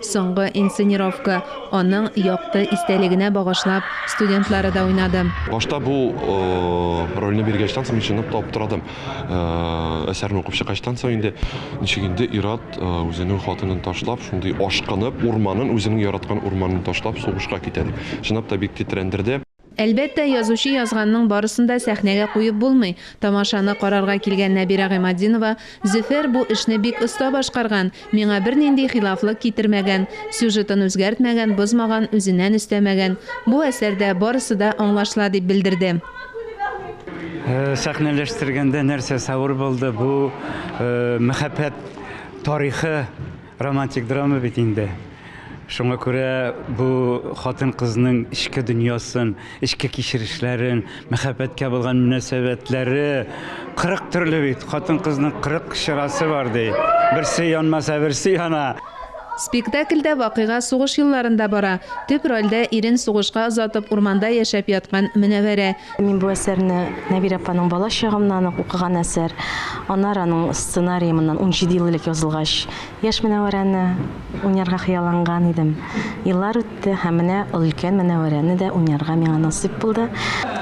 Соңгы инсценировка, аның якты истәлегенә багышлап, студентлары да уйнады. Башта бу рольне биргәч тә, мин чынлап та аптырадым. Әсәрне укып чыккачтан соң инде, ничек инде ир-ат үзенең хатынын ташлап, шундый ашкынып, урманын, үзенең яраткан урманын ташлап сугышка китә дип. Чынлап та бик тетрәндерде. Әлбәттә, язучы язганның барысын да сәхнәгә куеп булмый. Тамашаны карарга килгән Нәбирә Гыйматдинова, Зөфәр бу эшне бик оста башкарган, миңа бернинди хилафлык китермәгән, сюжетын үзгәртмәгән, бозмаган, үзеннән өстәмәгән. Бу әсәрдә барысы да аңлашыла, дип белдерде. Сәхнәләштергәндә нәрсәсе авыр булды, бу мәхәббәт тарихы. Романтик драма бит инде. Шуңа күрә бу хатын-кызның эчке дөньясын, эчке кичерешләрен, мәхәббәткә булган мөнәсәбәтләре 40 төрле бит. Хатын-кызның 40 чырасы бар ди. Берсе янмаса, берсе яна. Спектакльдә вакыйга сугыш елларында бара. Төп рольдә ирен сугышка озатып урманда яшәп яткан Мөнәвәрә. Мин бу әсәрне Нәбир апаның бала чагымнан ук укыган әсәр. Анар аның сценарии моннан 17 ел элек язылгач, яшь Мөнәвәрәне уйнарга хыялланган идем. Еллар үтте һәм менә өлкән Мөнәвәрәне дә уйнарга миңа насыйп булды.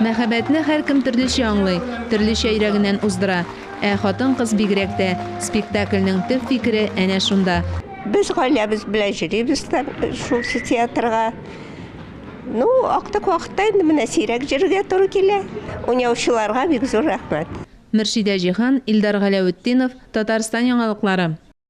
Мәхәббәтне һәркем төрлечә аңлый, төрлечә йөрәгеннән уздыра. Ә хатын-кыз бигрәк тә. Спектакльнең төп фикере әнә шунда. Без гаиләбез белән йөрибез дә шул театрга. Ну, актык вакытта инде менә сирәк җөрергә туры килә. Уйнаучыларга бик зур рәхмәт. Мөршидә Җиһан, Илдар Галәветдинов, Татарстан яңалыклары.